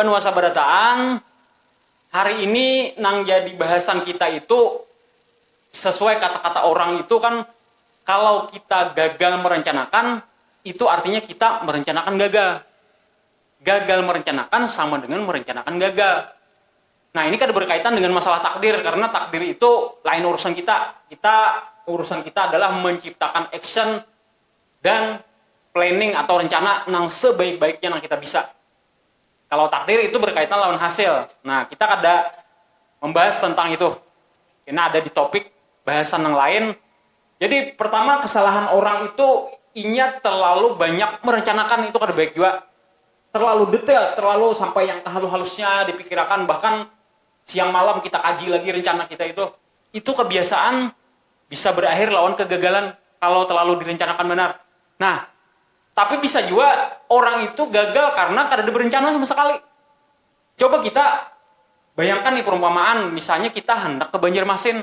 banua sabada taang hari ini nang jadi bahasan kita itu sesuai kata-kata orang itu kan kalau kita gagal merencanakan itu artinya kita merencanakan gagal Gagal merencanakan sama dengan merencanakan gagal. Nah, ini kada berkaitan dengan masalah takdir karena takdir itu lain urusan kita. Kita urusan kita adalah menciptakan action dan planning atau rencana nang sebaik-baiknya nang kita bisa. Kalau takdir itu berkaitan lawan hasil. Nah, kita kada membahas tentang itu. Kena ada di topik bahasan nang lain Jadi pertama kesalahan orang itu inya terlalu banyak merencanakan itu kada baik jua terlalu detail terlalu sampai yang tehalus-halusnya dipikirakan bahkan siang malam kita kaji lagi rencana kita itu itu kebiasaan bisa berakhir lawan kegagalan kalau terlalu direncanakan banar nah tapi bisa jua orang itu gagal karena kadada berencana sama sekali coba kita bayangkan nih perumpamaan misalnya kita handak ke Banjarmasin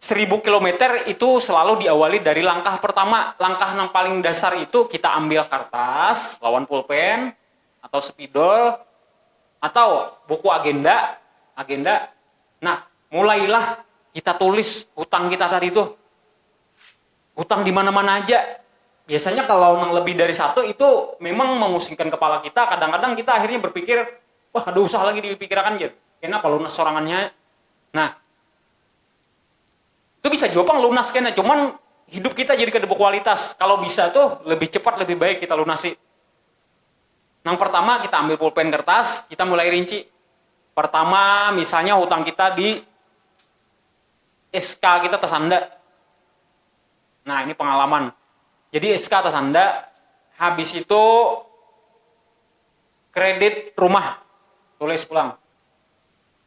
seribu kilometer itu selalu diawali dari langkah pertama, langkah nang paling dasar itu kita ambil kartas lawan pulpen atau spidol atau buku agenda, agenda, nah mulailah kita tulis hutang kita tadi tuh, hutang di mana-mana aja, biasanya kalau nang lebih dari satu itu memang memusingkan kepala kita, kadang-kadang kita akhirnya berpikir wah kada usah lagi dipikirakan jar kena balunas sorangannya, nah. Itu bisa jua pang lunas kena, cuman hidup kita jadi kada berkualitas. Kalau bisa tuh lebih cepat lebih baik kita lunasi. Nang pertama kita ambil pulpen kertas, kita mulai rinci. Pertama misalnya hutang kita di SK kita tasanda. Nah ini pengalaman. Jadi SK tasanda, habis itu kredit rumah tulis pulang.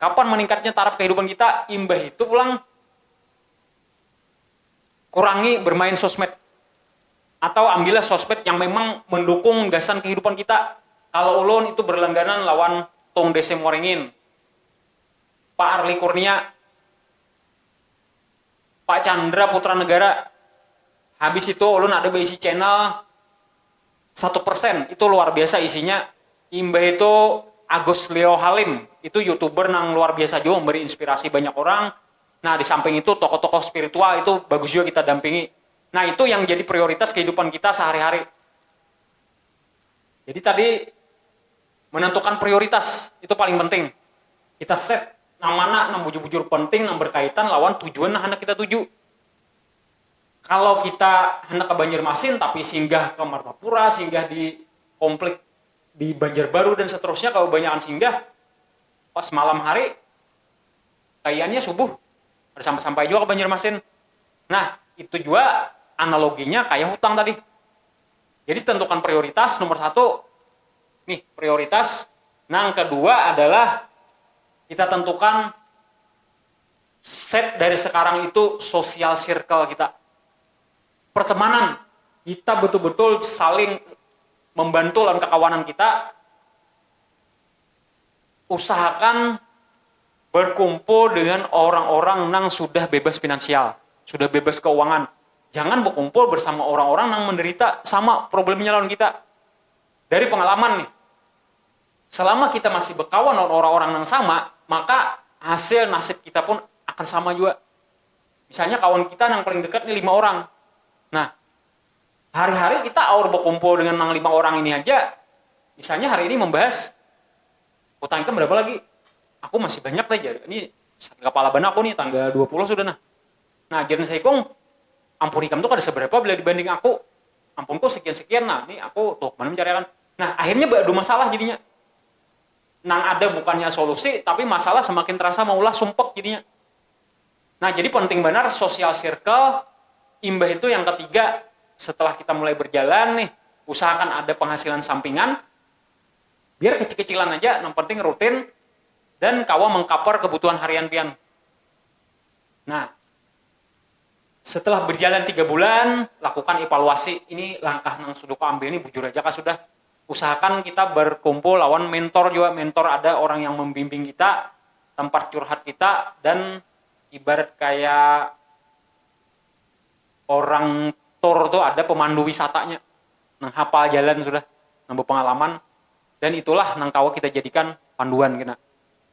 Kapan maningkatnya taraf kahidupan kita imbah itu pulang kurangi bermain sosmed atau ambillah sosmed yang memang mendukung gasan kahidupan kita kalo ulun itu berlangganan lawan tung desem waringin, pak arly kurnia, pak chandra putra negara habis itu ulun ada baisi channel. satu persen itu luar biasa isinya imbah itu Agus Leo Halim itu youtuber nang luar biasa jua memberi inspirasi banyak orang nah disamping itu tokoh-tokoh spiritual itu bagus juga kita dampingi nah itu yang jadi prioritas kehidupan kita sehari-hari jadi tadi menentukan prioritas itu paling penting kita set nang mana nang bujur-bujur penting nang berkaitan lawan tujuan nang handak kita tuju. Kalau kita handak ke Banjarmasin tapi singgah ke Martapura, singgah di komplek di Banjarbaru dan seterusnya kabanyakan singgah pas malam hari kayanya subuh kada sampai sampai jua ke Banjarmasin nah itu jua analoginya kaya hutang tadi jadi tentukan prioritas nomor satu nih prioritas nang kedua adalah kita tentukan. set dari sekarang itu social circle kita. Pertemanan, kita betul-betul saling membantu lawan kakawanan kita, usahakan berkumpul dengan orang-orang nang sudah bebas finansial, sudah bebas keuangan, jangan bekumpul bersama orang-orang nang menderita sama problemnya lawan kita. Dari pengalaman nih. selama kita masih bekawan lawan orang-orang nang sama, maka hasil nasib kita pun akan sama jua. Misalnya kawan kita nang paling dekat ni lima orang, nah hari-hari kita aur bekumpul dengan nang lima orang ini haja, misalnya hari ini membahas hutang ikam berapa lagi, aku masih banyak lagi jar, ini sakit kapala banar aku ni tanggal dua puluh sudah nah, nah jar nasi ikung ampun ikam tu kada seberapa bila dibanding aku, ampunku sekian-sekian nah, ni aku tuh banar mencariakan, Nah, akhirnya beadu masalah jadinya. Nang ada bukannya solusi, tapi masalah semakin terasa maulah sumpek jadinya. Nah, jadi penting banar social circle. Imbah itu yang ketiga, setelah kita mulai berjalan nih, usahakan ada penghasilan sampingan. Biar kecil-kecilan aja, nang penting rutin dan kawa mengcover kebutuhan harian pian. Nah, Setelah berjalan tiga bulan, lakukan evaluasi. Ini langkah nang sudah ku ambil ni bujur aja kah sudah? Usahakan kita berkumpul lawan mentor jua, mentor ada orang yang membimbing kita, tempat curhat kita, dan ibarat kaya orang tour tu ada pemandu wisatanya nang hapal jalan sudah, nang bepengalaman, dan itulah nang kawa kita jadikan panduan kena.